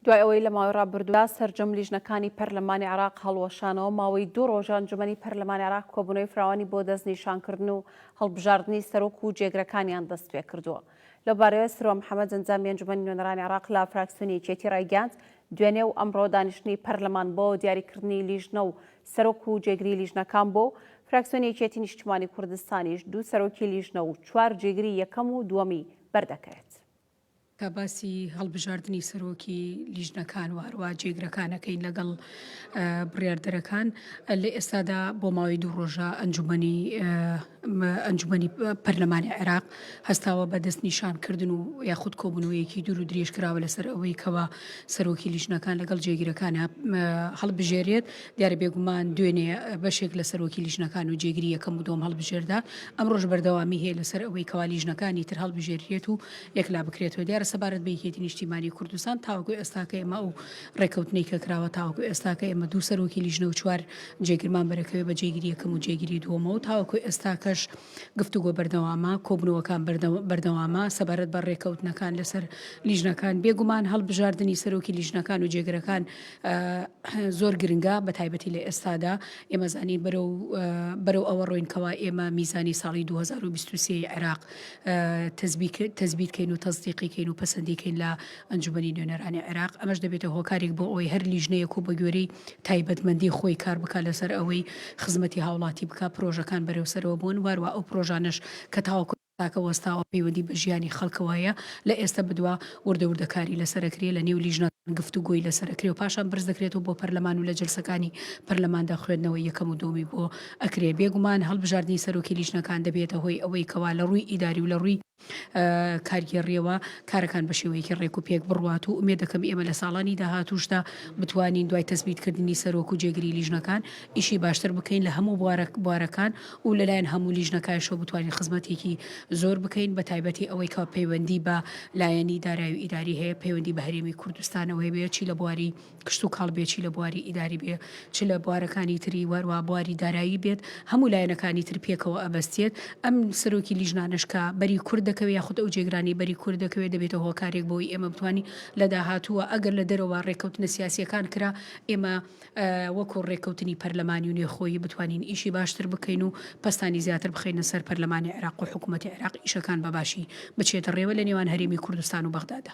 دوای ئەوەی لە ماوەی ڕابردوودا سەرجەم لیژنەکانی پەرلەمانی عراق هەڵوەشانەوە ماوەی دوو ڕۆژە ئەنجومەنی پەرلەمانی عراق کۆبوونەوەی فراوانی بۆ دەستنیشانکردن و هەڵبژاردنی سەرۆک و جێگرەکانیان دەست پێ کردووە لەو بارەیەوە سروە محەممەد ئەنجامی ئەنجومەنی نوێنەرانی عراق لە فراکسیۆنی یەکێتی ڕایگەیاند دوێنێ و ئەمڕۆ دانیشتنی پەرلەمان بۆ دیاریکردنی لیژنە و سەرۆک و جێگری لیژنەکان بۆ فراکسیۆنی یەکێتی نیشتیمانی کوردستانیش دوو سەرۆکی لیژنە و چوار جێگری یەکەم و دووەمی بەردەکەوێت کە باسی هەڵبژاردنی سەرۆکی لیژنەکان و هەروە جێگرەکان ئەکەین لەگەڵ بڕیاردەرەکان لە ئێستادا بۆ ماوەی دوو ڕۆژە ئەنجومنی ئەنجومنی پەرلەمانی عێراق هەستاوە بە دەست نیشانکردن و یاخود کۆبوونەوەیەکی دوور و درێژکراوە لەسەر ئەوەی کەەوە سەرۆکی لیژنەکان لەگەڵ جێگیرەکانە هەڵبژێرێت دیارە بێگومان دوێنێ بەشێک لە سەرۆکی لیژنەکان و جێگری یەکەم و دۆم هەڵبژێردا ئەمڕۆژ بەردەوامی هەیە لەسەر ئەوەی کەوا لیژنەکانی تر هەڵبژێریت و یەکلا بکرێتەوە دیارە سەبارەت بەیکێتی نیشتیمانی کوردستان تاوەکو ئێستاکە ئێمە ئەو ڕێکەوتنی کە کراوە تاوەکو ئێستاکە ئێمە دوو سەرۆکی لیژنە و چوار جێگرمان بەرەکەوێ بە جێگری یەکەم و جێگری دووەمەوە تاوەکو ئێستاکەش گفتوگۆ بەردەوامە، کۆبوونەوەکان بەردەوامە سەبارەت بە ڕێکەوتنەکان لەسەر لیژنەکان، بێگومان هەڵبژاردنی سەرۆکی لیژنەکان و جێگرەکان زۆر گرنگە بە تایبەتی لە ئێستادا ئێمە زانین بەرەو ئەوە ڕۆینکەوە ئێمە میزانی ساڵی 2023 عێراق تەزبیت کەین و تەزدیقیکەین و پەسەندیکەین لە ئەنجومەنی نوێنەرانی عێراق، ئەمەش دەبێتە هۆکارێک بۆ ئەوەی هەر لیژنەیەک و بەگوێرەی تایبەتمەندی خۆی کار بکات لەسەر ئەوەی خزمەتی هاوڵاتی بکات، پرۆژەکان بەرەو سەرەوە بوون، واروا ئەو پرۆژانەش کە تاوەکو یاساکە وەستاوە پەیوەندی بە ژیانی خەڵکەوە هەیە، لە ئێستە بەدوا وردە وردە کاری لەسەر ئەکرێ، لە نێو لیژنەکان گفتوگۆی لەسەر ئەکرێ و پاشان بەرز دەکرێتەوە بۆ پەرلەمان و لە جەلسەکانی پەرلەماندا خوێندنەوەی یەکەم و دووەمی بۆ ئەکرێ، بێگومان هەڵبژاردنی سەرۆکی لیژنەکان دەبێتە هۆی ئەوەی کەوا لە ڕووی ئیداری و لە ڕووی. کارگێڕییەوە کارەکان بە شێوەیەکی ڕێک و پێک بڕوات و ئومێ دەکەم ئێمە لە ساڵانی داهاتوشدا بتوانین دوای تەسبیتکردنی سەرۆک و جێگری لیژنەکان ئیشی باشتر بکەین لە هەموو بوارە بوارەکان و لەلایەن هەموو لیژنەکایشەوە بتوانین خزمەتێکی زۆر بکەین بە تایبەتی ئەوەی کە پەیوەندی بە لایەنی دارایی و ئیداری هەیە پەیوەندی بە هەرێمی کوردستانەوە هەیە چی لە بواری کشتوکاڵ بێ چی لە بواری ئیداری بێ چ لە بوارەکانی تری وەروا بواری دارایی بێت هەموو لایەنەکانی تر پێکەوە ئەبەستێت ئەم سەرۆکی لیژنانەش کە بەری کورد دەکەوێت یاخود ئەو جێگرانی بەری کورد دەکەوێت دەبێتە هۆکارێک بۆی ئێمە بتوانین لە داهاتووە ئەگەر لە دەرەوە ڕێککەوتنە سیاسیەکان کرا ئێمە وەکو ڕێککەوتنی پەرلەمانی و نێخۆیی بتوانین ئیشی باشتر بکەین و پستانی زیاتر بخینە سەر پەرلەمانی عێراق و حکوومەتی عێراق ئیشەکان بەباشی بچێتە ڕێوە لە نێوان هەرێمی کوردستان و بەغدادا.